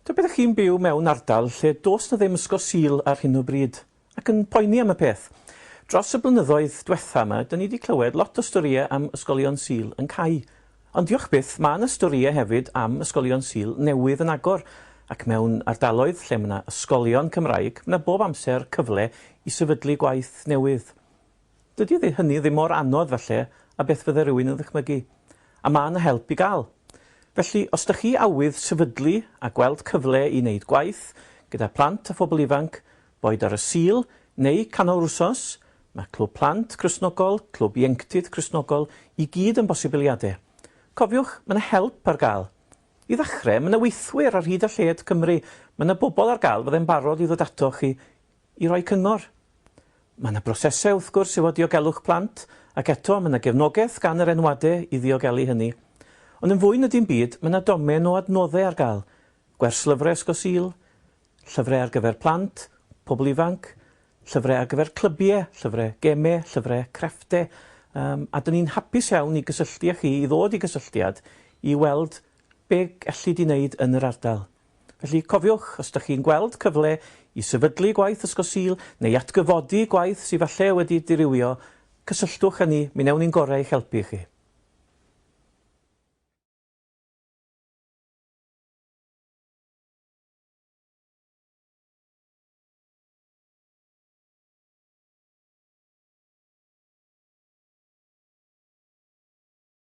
Tybed ydych chi'n byw mewn ardal lle does 'na ddim ysgol Sul ar hyn o bryd, ac yn poeni am y peth? Dros y blynyddoedd dwetha 'ma, 'da ni 'di clywed lot o storïau am ysgolion Sul yn cau. Ond diolch byth, ma' 'na storïau hefyd am ysgolion Sul newydd yn agor, ac mewn ardaloedd lle ma' 'na ysgolion Cymraeg, ma' 'na bob amser cyfle i sefydlu gwaith newydd. Dydy ddi hynny ddim mor anodd falle a beth fydde rhywun yn ddychmygu. A ma' 'na help i gael. Felly, os 'da chi awydd sefydlu a gweld cyfle i neud gwaith gyda plant a phobl ifanc, boed ar y Sul neu canol yr wsos, ma' Clwb Plant Cristnogol, Clwb Ieunctid Cristnogol i gyd yn bosibiliade. Cofiwch, ma' 'na help ar gael. I ddachre, ma' 'na weithwyr ar hyd a lled Cymru, ma' 'na bobl ar gael fydde'n barod i ddod atoch chi i roi cyngor. Mae yna brosesau, wrth gwrs, efo diogelwch plant, ac eto, mae yna gefnogaeth gan yr enwadau i ddiogelu hynny. Ond yn fwy na dim byd, mae yna domen o adnoddau ar gael, gwerslyfrau Ysgol Sul, llyfrau ar gyfer plant, pobl ifanc, llyfrau ar gyfer clybiau, llyfrau gemau, llyfrau crefftau, yym, a 'dyn ni'n hapus iawn i gysylltu â chi, i ddod i gysylltiad, i weld be elli di wneud yn yr ardal. Felly, cofiwch, os ydych chi'n gweld cyfle i sefydlu gwaith ysgol Sul neu i atgyfodi gwaith sydd falle wedi dirywio, cysylltwch â ni, mi wnewn ni'n gorau i'ch helpu chi.